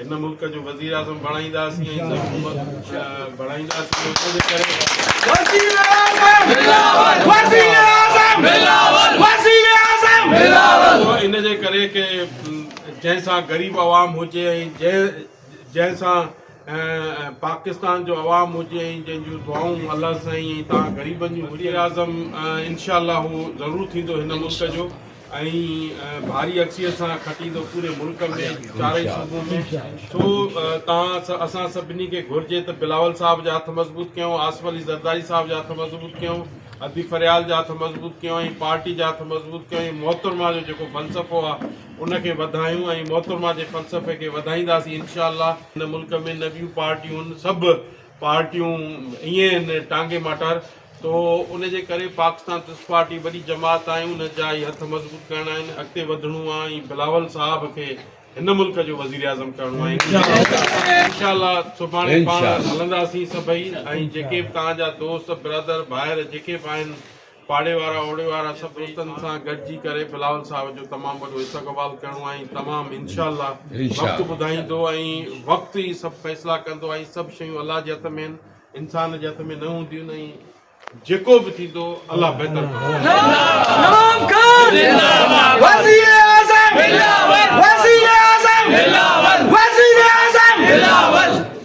هن ملڪ جو وزيراعظم بڻائينداسين ۽ حڪومت بڻائينداسين ان جي ڪري ڪي جنهن سان غريب عوام هجي ۽ جنهن جنهن سان پاڪستان جو عوام هجي ۽ جنهن جون دعائون الله سائين ۽ تان غريبن جون وزيراعظم انشاء الله هو ضرور ٿيندو هن ملڪ جو ۽ ڀاري اڪسيت سان کٽيندو پوري ملڪ ۾ چارئي صوبو ۾ سو تان اسان سڀني کي گهرجي ته بلاول صاحب جا هٿ مضبوط ڪيون آصف علي زرداري صاحب جا هٿ مضبوط ڪيون ادي فريال جا هٿ مضبوط ڪيون ۽ پارٽي جا هٿ مضبوط ڪيون ۽ محترمه جو جيڪو فلسفو آ ان کي وڌايون ۽ محترمه جي فلسفي کي وڌائينداسين انشاء الله هن ملڪ ۾ نه ٻيون پارٽيون سڀ پارٽيون ائين هن ٽانگي ماٽار تو ان جي ڪري پاڪستان پيپلز پارٽي وڏي جماعت آهي ان جا ئي هٿ مضبوط ڪرڻا آهن اڳتي وڌڻو آهي ۽ بلاول صاحب کي هن ملڪ جو وزير اعظم ڪرڻو آهي انشاء الله سڀاڻي پاڻ هلنداسين سڀئي ۽ جيڪي به توهان جا دوست برادر ڀائر جيڪي به آهن پاڙي وارا اوڙي وارا سڀ دوستن سان گڏجي ڪري بلاول صاحب جو تمام وڏو استقبال ڪرڻو آهي ۽ تمام انشاء الله وقت ٻڌائيندو ۽ وقت ئي سڀ فيصلا ڪندو ۽ سڀ شيون الله جي هٿ ۾ آهن انسان جي هٿ ۾ نه هونديون آهن ۽ جيڪو به ٿيندو الله بهتر ڪندو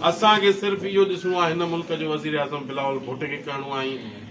اسان کي صرف اهو ڏسڻو آهي هن ملڪ جو وزيراعظم بلاول ڀٽ کي ڪرڻو آهي